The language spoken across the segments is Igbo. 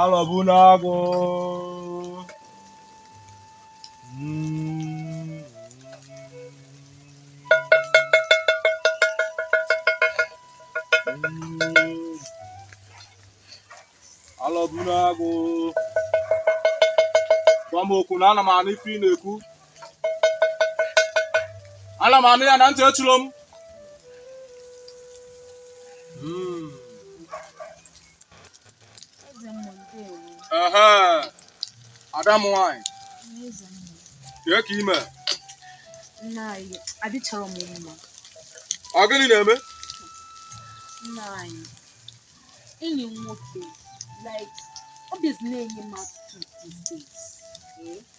alọbunagụ alọbunagụ gwa m okwu na ana m anụ ife ị na-ekwu ana m anụ ya na ntị echiro m hmm. ada m nwanyị kee ka i me ọ gịnị na-eme enyi m nwoke like ọ bịazi na-enye m attitude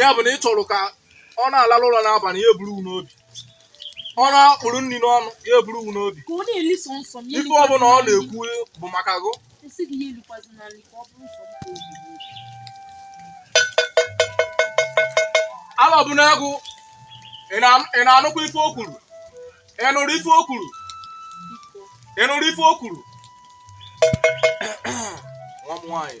ya bụ na ị chọrọ ka ọ na-alalụ ụla n'abalị ya eburu n'obi ọ na-akpụrụ nri n'ọnụ ya eburu n'obi ife ọbụla ọ na-ekwu bụ maka gụ alọbunagụ ị na-anụkwa ife o kwuru ị nụrụ ife o kwuru ị nụrụ ife o kwuru nwa m nwaanyị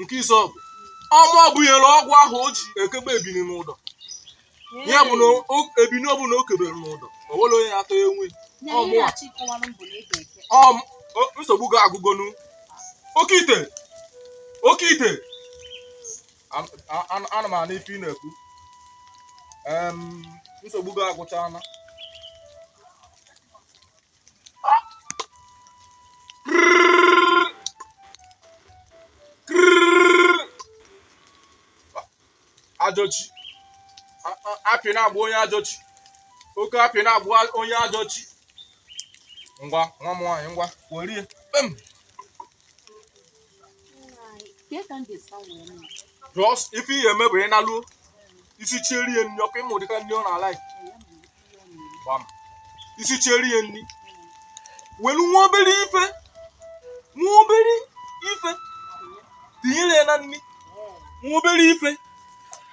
nke Izuọgụ ọ mụwa bunyere ọgwụ ahụ o ji ekebe ebini n'ụdọ ya bụ na o- ebini ọbụla o kebere n'ụdọ o nwere onye atọ ya enwe nsogbu gị agụgonu oke ite oke ite An- a- an- ana m anụ ife ị na-ekwu Em, nsogbu gị agụchaana ajọ chi akpị na-agba onye ajọ chi oke akpị na-agba onye ajọ chi ngwa nwa m nwaanyị ngwa werie kpem just ife ị ya-eme bụ ị naluo i sichere ya nri ọkụ ị ma ụdịka nri ọ na-ala i sichere ya nri welu nwa obere ife nwa obere ife tinyere ya na nri nwa obere ife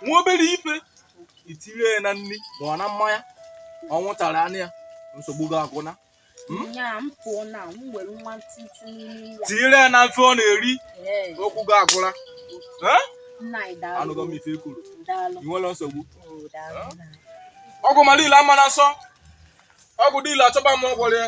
nwa obere ife i tinyere ya na nri ma ọ na mmanya ọ ṅụtara aṅụ ya nsogbu gị agwụna tinyere ya n'ife ọ na-eri okwu gị agwụla anụgo m ife i kwuru enwerọ nsogbu ọgwụ ma dị ile ama na nsọ ọgwụ dị ile achọba m ọgwụrụ ya